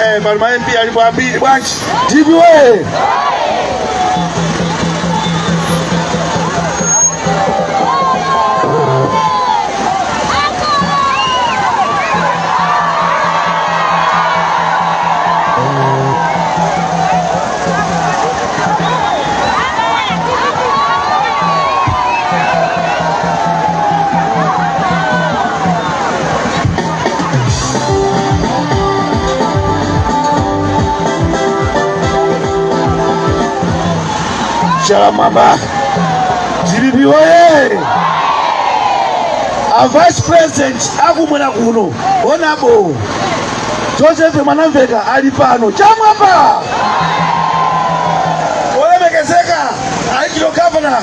Eh, pali ma MP alipo ambiri bwanji. DPP woye. Shalamaba GBP oye! A vice president akumwera kuno onabo Joseph Mwanamveka ali pano chamwapa olemekezeka ayichiro governor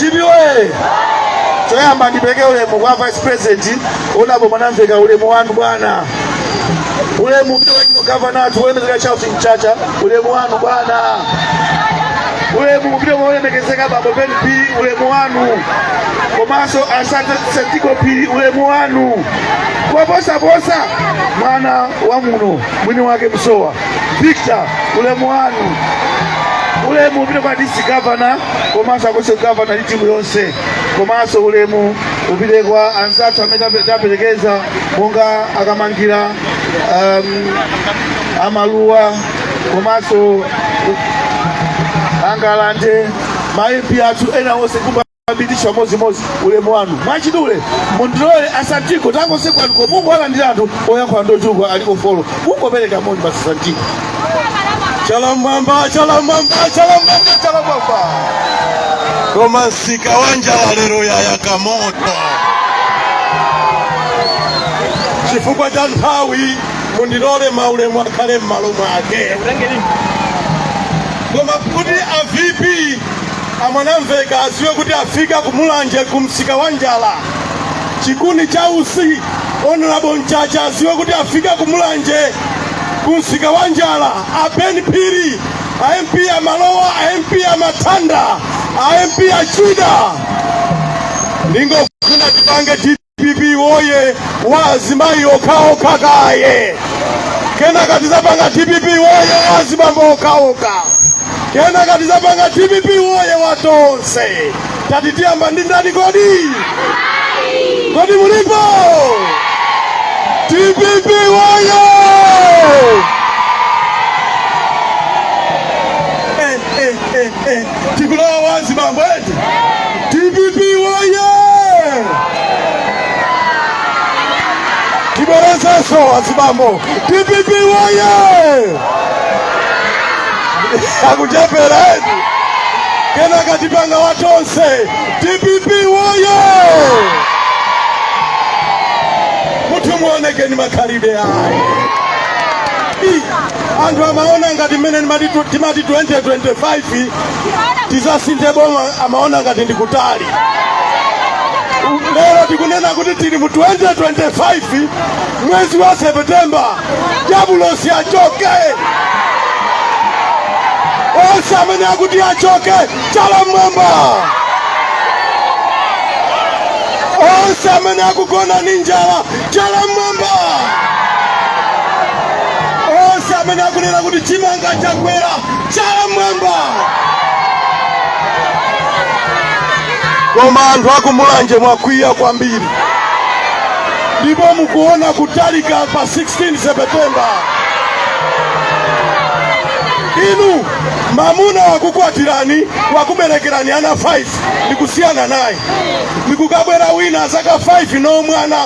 dpp woye choyamba ndipeke ulemu kwa vice president honorable mwanamvekha ulemu wanu bwana ulemu upite kwa gavana athu olemekezeka charles mchacha ulemu wanu bwana ulemu upite kwa olemekezeka bambo ben phiri ulemu wanu komanso a santi santiago phiri ulemu wanu koposaposa mwana wa muno mwini wake musowa Victor ulemu wanu ulemu upite kwa DC governor komanso a constituency governor ndi timu yonse komanso ulemu upite kwa anzathu amene atiperekeza monga a Kamangira um, a Maluwa komanso a Ngalande ma MP athu ena onse kumb abitisa mmozimmozi ulemu wanu mwachidule mundilole a santiago takonze kwanuko mungowalandira anthu oyankhula ndi ochuluka aliko folo mungopereka moni basi a santiago chala m'mwamba chalamwamba chalamwamba chalamwamba koma msika wa njala lero wayaka moto chifukwa cha nthawi mundilole maulemu akhale m'malo mwake koma kuti a vp A Mwanamvekha adziwe kuti afika ku Mulanje ku msika wa njala. Chikuni cha usi Honorable Mchacha adziwe kuti afika ku Mulanje ku msika wa njala. A Ben Phiri a MP a Maluwa a MP a Matanda a MP a Chida ndingofuna tipange dpp woye wa azimayi okhaokha kaye kenaka tizapanga dpp woye wa azibambo okhaokha kenaka tizapanga dpp woye wa tonse tati tiyambe ndi ndani kodi kodi mulipo dpp woye eh, eh, eh, eh. tikulowa wa azibambo eti dpp woye tibwerezenso wa azibambo dpp woye akuchepera eti kenaka tipanga watonse dpp woye kutukumuonekeni makhalidwe ayi anthu amaona ngati mmene timati 2025 tizasinthe boma amaona ngati ndikutali lero tikunena kuti tili mu 2025 mwezi wa septemba dyabulosi achoke onse amene akuti achoke chala mmwamba onse amene akugona ndi njala chala mmwamba onse amene akunena kuti chimanga chakwera chala mmwamba koma anthu akumulanje mwakwiya kwambiri ndipo mukuona kutalika pa 16 septemba inu mamuna wakukwatirani wakuberekerani ana 5 ndikusiyana naye ndikukabwera wina azaka 5 no mwana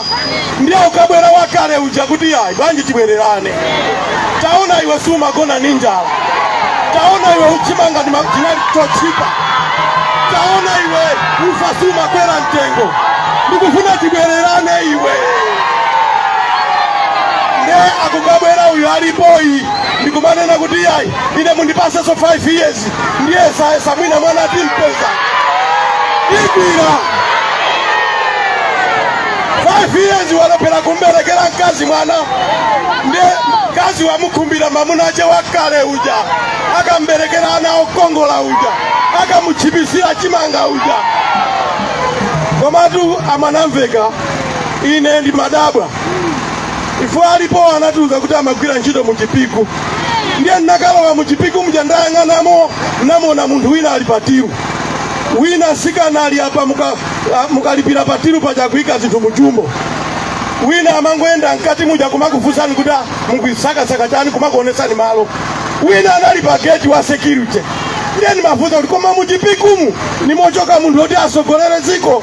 ndiye ukabwera wakale uja kuti ayi bwanji tibwererane taona iwe sumagona ndi njala taona iwe chimanga ndi machinali chochipa taona iwe ufa sumakwera mtengo ndikufuna tibwererane iwe ndiye akukabwera uyu alipoyu ndikumanena kuti ayi ine mundipasenso 5 years ndiyesayesa mwina mwana timpeza igwira 5 years walephera kumberekera mkazi mwana nde mkazi wamukhumbira mamuna ache wakale uja akamberekera ana okongola uja akamuchipisira chimanga uja komatu a mwanamveka ine ndimadabwa ife alipo anatiuza kuti amagwira ntchito mu chipiku ndiye ndinakalowa mu chipiku muja ndayang'anamo namona munthu wina ali patiru wina tsikana ali apa mukalipira patiru paja kuika zinthu mujumbo wina amangoyenda mkati muja kumakufunsani kuti "Ah, mukuisakasaka chani kumakuonesani malo wina anali pa geti wa security ndiye ndimafunsa kuti koma muchipikumu ndi mochoka munthu oti asogolere dziko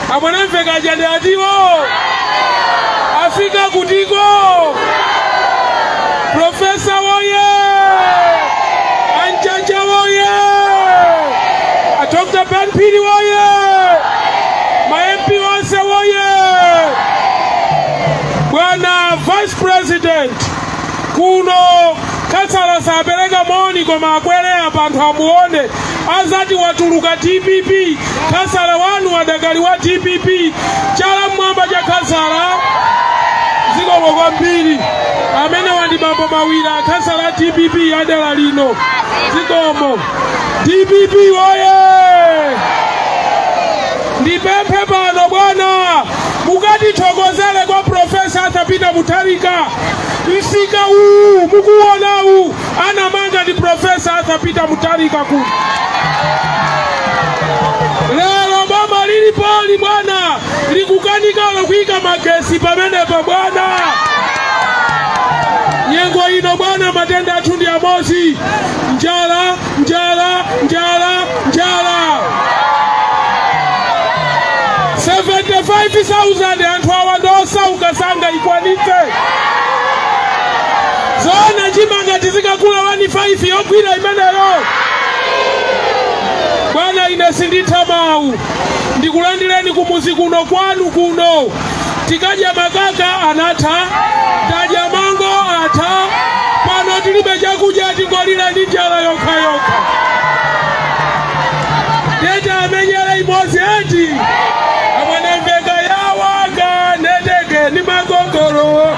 A mwanamveka aja ndi atiwo afika kutiko profesa woye a mchacha woye a dr ben phiri woye ma mp onse woye bwana vice president kuno khansala sapereka moni koma akwere apa anthu amuone azati watuluka dpp Kasala wanu adakali wa dpp chala mmwamba cha Kasala zikomo kwambiri amene wandibambo mawira a Kasala a dpp adala lino zikomo dpp woye ndipemphe pano bwana mukatithokozere kwa profesa Arthur Peter Mutharika msika uwu mukuwonawu anamanga ndi profesa arthur peter Mutharika kuti lero boma lilipoli bwana likukanikalo kuyika magesi pamenepa bwana nyengo ino bwana matenda athu ndi amodzi njala njala njala njala 75000 anthu awa ndi osauka sangaikwanitse Zoona chimanga tizikagula 15 yokwera imeneyo? Bwana ine sinditha mawu. Ndikulandireni kumuzi kuno kwanu kuno. Tinkadya makaka anatha, tadya mango atha, pano tilibe chakudya tingolira ndi njala yokhayokha. Tete amenyere imodzi eti amwenembeka yawaga neteke ni magogolo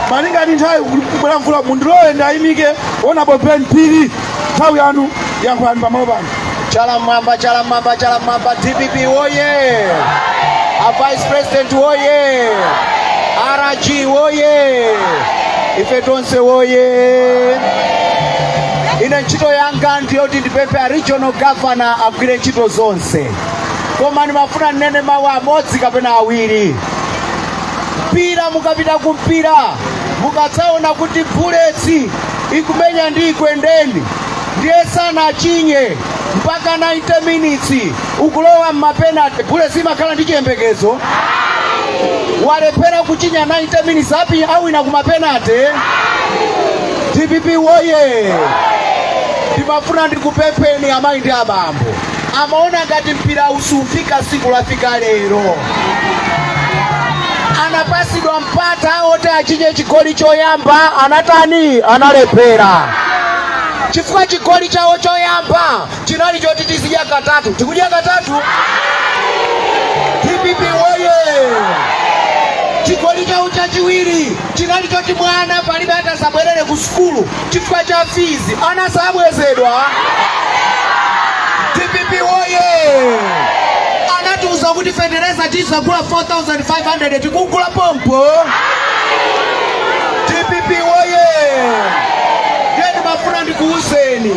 malinga ndi nthawi kubwera mvula mundilole ndiwayimike Honourable Ben Phiri nthawi yanu yankhulani pamalo pano chala mmwamba chala mmwamba chala mmwamba dpp woye a vice president woye rg woye ife tonse woye ine ntchito yanga ndiyoti ndipemphe a regional governor agwire ntchito zonse koma ndimafuna ndinene mawu amodzi kapena awiri mpira mukapita ku mpira mukadzaona kuti bullets ikumenya ndi Ekwendeni ndiye sanachinye mpaka 90 minutes ukulowa mmapenalty bullets imakhala ndi chiyembekezo walephera kuchinya 90 minutes apa awina kumapenalty dpp woye ndimafuna ndikupempheni amayi ndi abambo amaona ngati mpira uziufika tsiku lafika lero anapatsidwa mpata oti achinye chigoli choyamba anatani analephera chifukwa chigoli chawo choyamba chinali choti tizidya katatu tikudya katatu dpp woye chigoli chawo chachiwiri chinali choti mwana palibe atadzabwerere ku sukulu chifukwa cha fees ana sabwezedwa dpp woye anatiuza kuti fetereza tizagula 4500 tikugula pompo dpp woye ndiye ndimafuna ndikuuzeni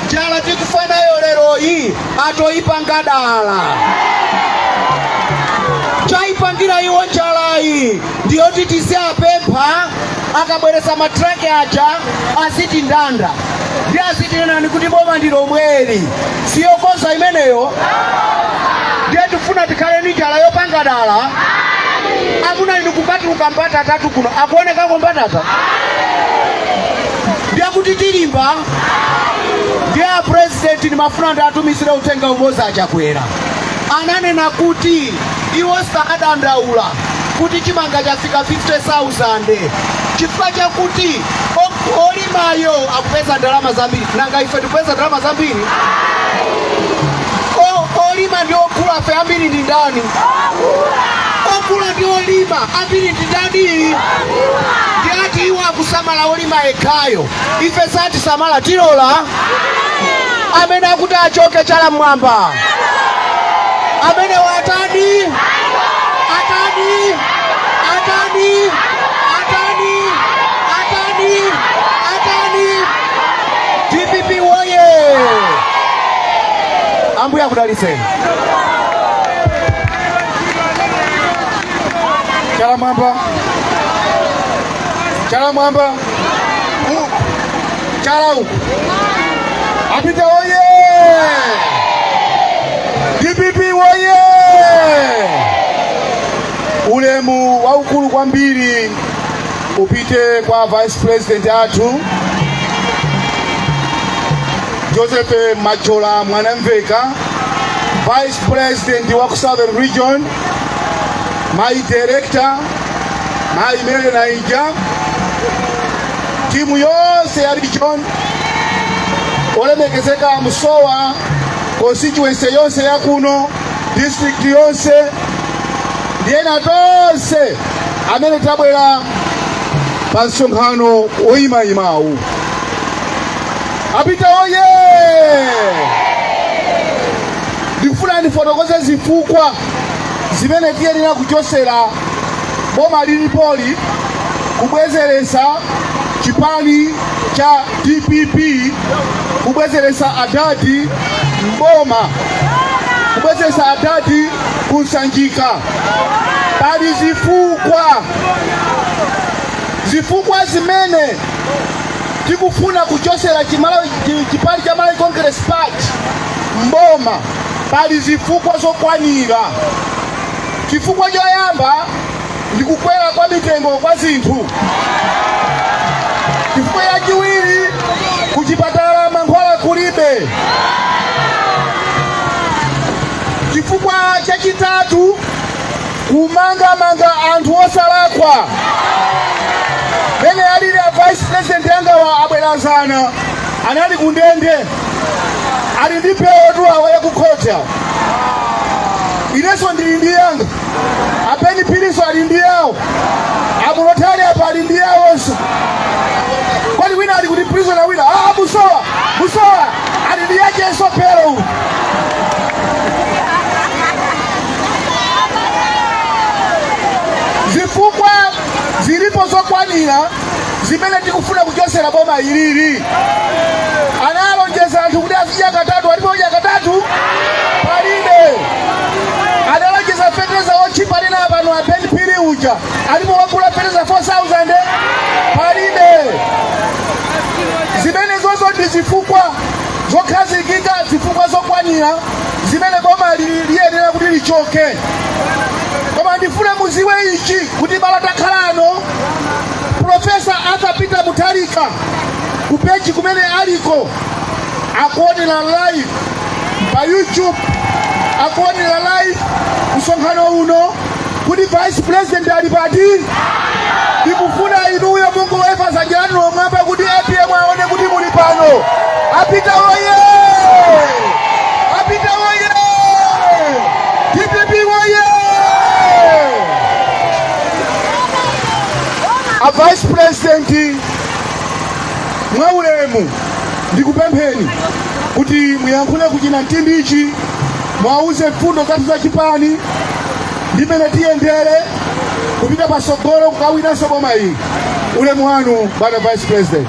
njala tikufa nayo leroyi atoyipanga dala chayipangira iwo njalayi ndi yoti tiziapempha akabweretsa matraki aja azitindanda ndi azitinenani kuti boma ndi lomweli siyokonza imeneyo ndiye tifuna tikhale ndi njala yopanga dala amuna inu kupatuluka mbatatatu kuno akuonekako mbatata ndiye kuti tilimba ndiye apresidenti ndimafuna ndiwatumizire uthenga umodzi achakwera ananena kuti iwo sakadandaula kuti chimanga chafika 50,000 chifukwa chakuti o- olimayo akupeza ndalama zambiri nanga ife tikupeza ndalama zambiri O- olima ndi ogulafe ambiri ndi ndani ogula ndi olima ambiri ndi ndani ndiye ati iwo akusamala olima yekhayo ife satisamala tilola amene akuti achoke chala mmwamba amene watani atani atani atani atani atani dpp woye ambuye akudalitseni chala mwamba chala mwamba U- chala uku a peter oye dpp oye ulemu waukulu kwambiri upite kwa vice president athu joseph mathyola mwanamvekha vice president wa ku southern region mayi director mayi mary mainja timu yonse ya region olemekezeka musowa constituency yonse ya kuno district yonse ndi ena tonse amene tabwera pa msonkhano woyimayimawu a peter oye ndikufuna ndifotokoze zifukwa zimene tiyenera kuchosera boma lilipoli kubwezeretsa chipani cha DPP kubwezeretsa adadi mboma kubwezeretsa adadi ku Sanjika pali zifukwa zifukwa zimene tikufuna kuchosera chipani cha Malawi Congress Party mboma Pali zifukwa zokwanira. Chifukwa choyamba ndi kukwera kwa mitengo kwa zinthu. Chifukwa chachiwiri, kuchipatala mankhwala kulibe. Chifukwa chachitatu, kumangamanga anthu osalakwa. Mene alili a vice president yangawa abwera dzana anali kundende. ali ndi belotu awa yakukhoti awa inenso ndili ndi yanga a ben phirinso ali ndi yawo a mulota ali apa ali ndi yawonso kodi wina ali kuti prisona wina ah, musowa musowa ali ndi yakenso belo uyu zifukwa zilipo zokwanira zimene tikufuna kuchosera boma ilili analonjeza anthu kuti azidya katatu alipo wodya katatu palibe analonjeza feteleza wotchipa anena pano a ben phiri uja alipo wagula feteleza 4000 palibe zimenezozo ndi zifukwa zokhazikika zifukwa zokwanira zimene boma li- liyenera kuti lichoke koma ndifuna muziwe ichi kuti bala takhalano profesa arthur peter mutharika ku page kumene aliko akuonera live pa youtube akuonera live msonkhano uno kuti vice president ali pati ndikufuna inuyo mungoweva zanja lanulo mmwamba kuti apm aone kuti muli pano a peter oye a peter oye dpp oye a vice president mwaulemu ndikupempheni kuti muyankhule ku chinamtindichi mwauze mfundo zathu za chipani ndimene tiyendere kupita patsogolo kukawinanso boma iyi ulemu wanu bwana vice president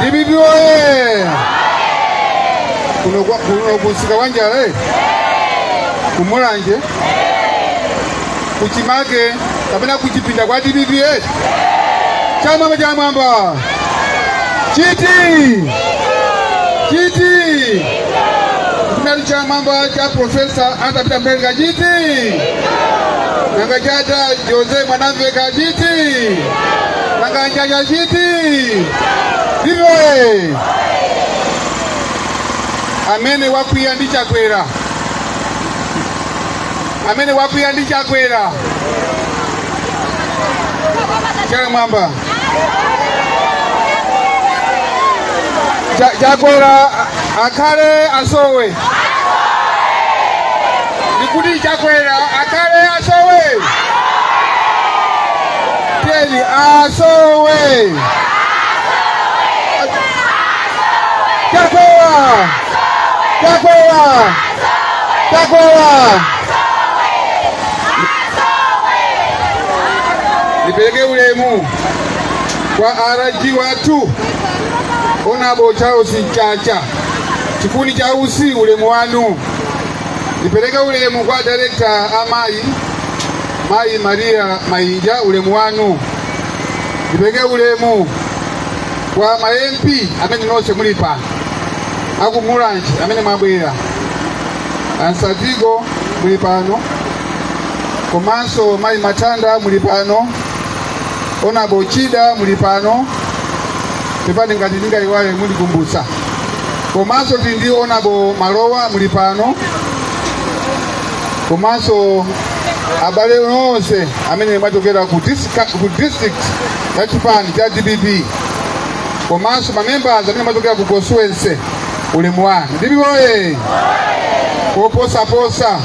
dpp oye kuno kwa- kuno kumsika kwa njala eh? kumulanje kuchimake kapena kuchipinda kwa dpp eh? chamwamba chamwamba chiti chiti kumali chamwamba cha profesa Arthur Peter Mutharika chiti nanga cha a Joseph Mwanamvekha chiti Nanga cha Chacha chiti iwe amene wakwiya ndi Chakwera, amene wakwiya ndi Chakwera chala m'mwamba Chakwera akhale asowe ndikuti Chakwera akhale asowe tiyeni asowe chakwera chakwera chakwera nipeleke ulemu kwa a RG wathu onabo Charles Mchacha chikuni cha utsi ulemu wanu nipeleke ulemu kwa direkta amayi mayi maria mainja ulemu wanu ndipereke ulemu kwa ma mp amene nonse muli pano akumulanje amene mwabwera ansatigo muli pano komanso mayi matanda muli pano onabo chida muli pano pepani ngati ndingayiwale mundikumbutsa komanso tili ndi onabo malowa muli pano komanso abale onse amene mwachokera ku district ya chipani cha dpp komanso mamembers amene mwachokera ku constituency ulemu wanu dpp oye koposaposa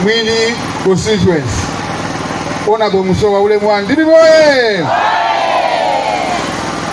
mwini constituency onabo musowa ulemu wanu dpp oye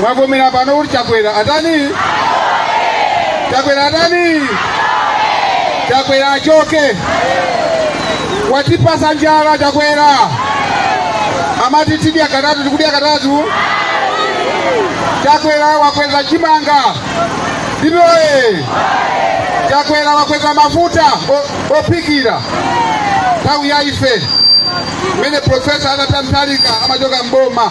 mwavomera pano kuti chakwera atani chakwera atani chakwera achoke watipatsa njala chakwera amati tidya katatu tikudya katatu chakwera wakweza chimanga dpp oye chakwera wakweza mafuta ophikira nthawi ya ife mmene profesa Arthur Mutharika amachoka mboma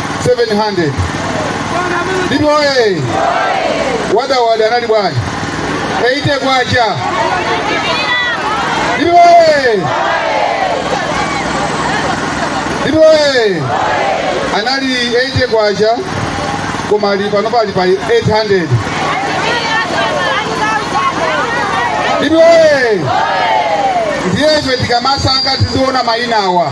700 DPP woye wadawada anali bwanji 80 kwacha DPP woye DPP woye anali 80 kwacha koma ali panopa ali pa 800 DPP woye ndiye ife tikamasankha tiziona mayina awa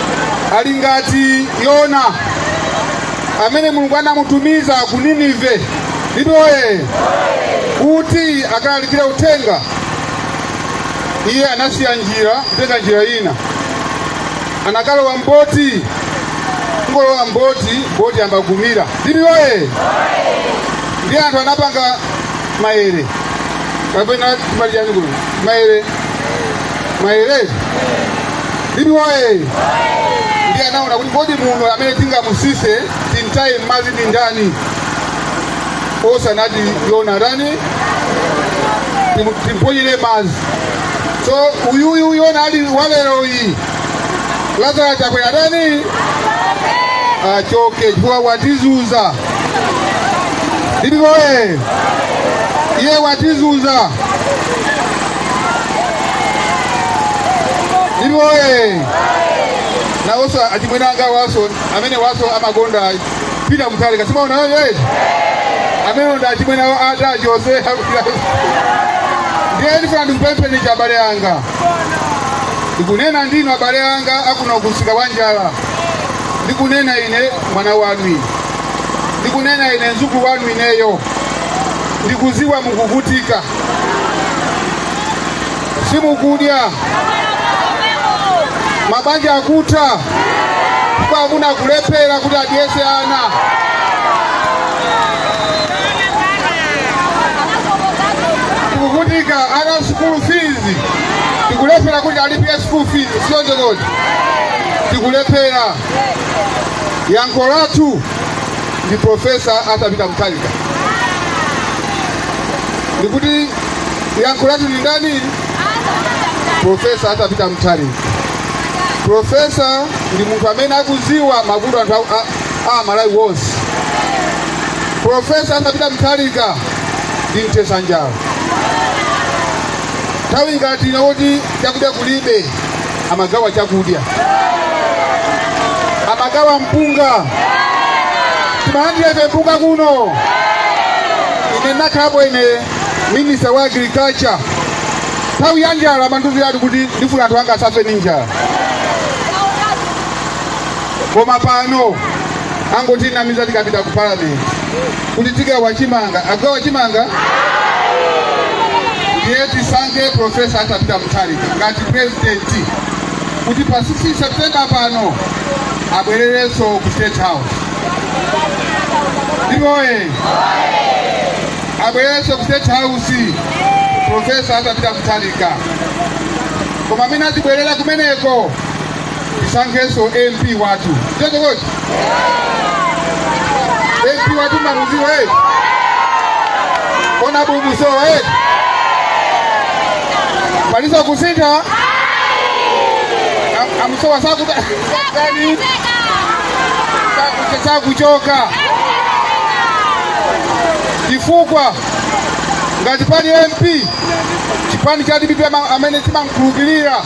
ali ngati Yona amene Mulungu anamutumiza ku Ninive DPP woye kuti akalalikire uthenga. Iye anasiya njira kutenga njira ina, anakalowa mboti kungolowa mboti boti yamba kumira DPP woye ndi anthu anapanga maere kapena timati chani kuno maere Maere DPP woye ndiye anaona kuti kodi munthu amene tingamusise timtaye m'madzi ndi ndani osanati Yona atani timu- timponyere m'madzi so uyuyu Yona ali waleroyi Lazaro Chakwera atani achoke chifukwa watizuza DPP woye iye watizuza DPP woye nawonso achimwene anga waso amene waso amakonda Peter Mutharika simaona yoyoye amene ndi achimwene awo ata achose ndiye ndifuna ndikupempheni abale anga ndikunena ndinu abale anga akuno kusika wa njala ndikunena ine mwana wanu ine ndikunena ine mzukulu wanu ineyo ndikuziwa mukuvutika simukudya mabanja akutha kwa amuna kulephera kuti adyese ana tikuvutika ana school fees tikulephera kuti alipire school fees sichoncho kodi tikulephera yankho lathu ndi Profesa Arthur Peter Mutharika. Ndikuti yankho lathu ndi ndani? Profesa Arthur Peter Mutharika. Profesa ndi munthu amene akuziwa mavuto anthu a- a- a Malawi wonse. Profesa Arthur Peter Mutharika ndi mthetsa njala. Nthawi ngati ino kuti chakudya kulibe amagawa chakudya amagawa mpunga timalandira ife mpunga kuno ine ndakhalapo ine minista wa agriculture nthawi ya njala amandiuziratu kuti ndifuna anthu anga asafe ni njala koma pano angotinamiza tikapita ku parliament kuti tigawa chimanga akugawa chimanga ndiye tisankhe profesa arthur peter mutharika ngati purezidenti kuti pa 16 septemba pano abwererenso ku state house dpp oye abwererenso ku state house profesa arthur peter mutharika koma mmene azibwerera kumeneko tisankhenso mp wathu tete koti mp wathu mumamuziwa e honourable musowa e pali zakusintha Am- amusowa sakuta sakutani sakuta sakuchoka chifukwa ngati pali mp chipani cha dpp ama- amene timamkhulupirira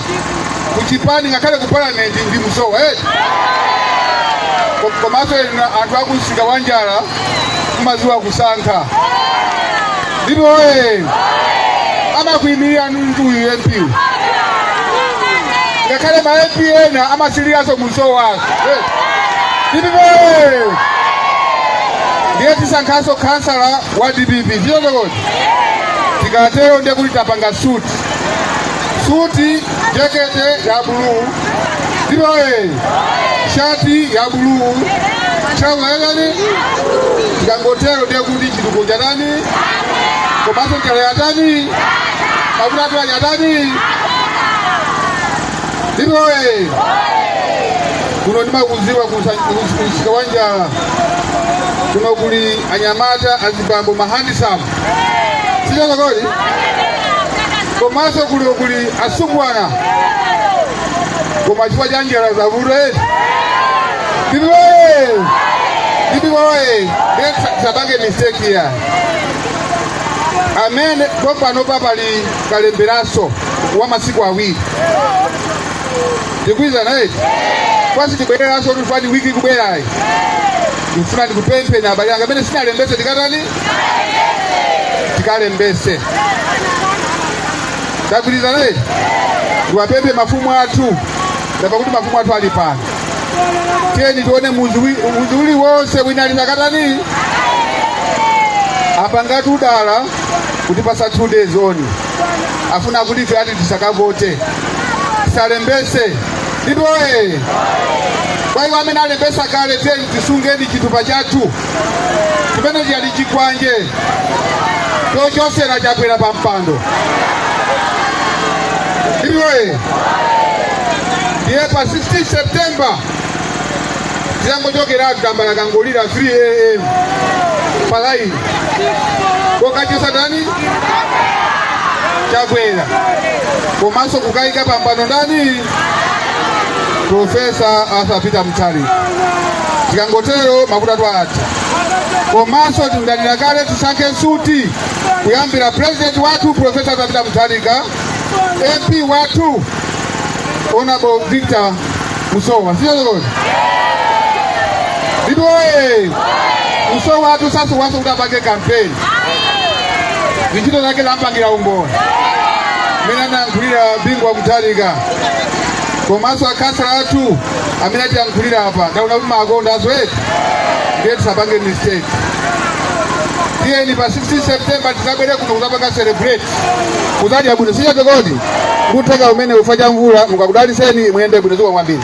kuchipani ngakhale ku parliament ndi musowa eti Ko- komanso inu anthu akumsika wa njala mumaziwa kusankha dpp oye amakuyimirira ndi uyu mp ngakhale ma mp ena amasiriranso musowa dpp oye ndiye tisankhanso khansala wa dpp sichoncho kodi tikatero ndiye kuti tapanga suti suti jekete ya buluu dpp oye shati ya buluu trouser yatani tikangotero ndiye kuti chitukuko chatani komanso njala yatani mavuto athu atani dpp oye kuno ndimakuziwa kumsika wa njala kuno kuli anyamata azibambo mahandisamu sichoncho kodi komanso kuli kuli asungwana koma chifukwa cha njala zavuta eti dpp oye dpp oye ndiye tisapange mistake ya amene pompanopa pali kalemberaso wa masiku awiri ndikwiza naye kwasi tibwereranso tufani wiki ikubwerayi ndifuna ndikupempheni abale anga amene sitinalembese tikatani tikalembese tagwirizana eti ndiwapemphe mafumu athu apa kuti mafumu athu ali pano tiyeni tione muzi wi- muzi uliwonse wina asakatani apa ngati m'dala kuti pasa two days ino afuna kuti ifeyo ati tisakavote tisalembese ndipo ee kwa iwo amene alembesa kale tiyeni tisunge chitupa chathu chimene chili chikwanje chochotsera chakwera pa mpando ndiye pa 16 september tikangoti tambala akangolira 3 am palaini kokachotsa ndani chakwera komanso kukayika pampando ndani Profesa Arthur Peter Mutharika. Tikangotero mavuto athu atha. Komanso tinanena kale tisankhe suti kuyambira president wathu Profesa Arthur Peter Mutharika, MP wathu Honorable Victor Musowa. Sio lolo. Ndipo eh, Musowa wathu sasowanso kuti apange campaign. ntchito zake zampangira umboni mmene anayankhulira bingu wa mutharika komanso akhansala athu mmene atiyankhulira apa ndaona kuti mumawakonda zedi ndiye tisapange mistake tiyeni pa 16 september tizabwere kuno kuzapanga celebrate kuzadya bwino sichoncho kodi ngotheka mwini ufa ndi mvula akudalitseni muyende bwino zikomo kwambiri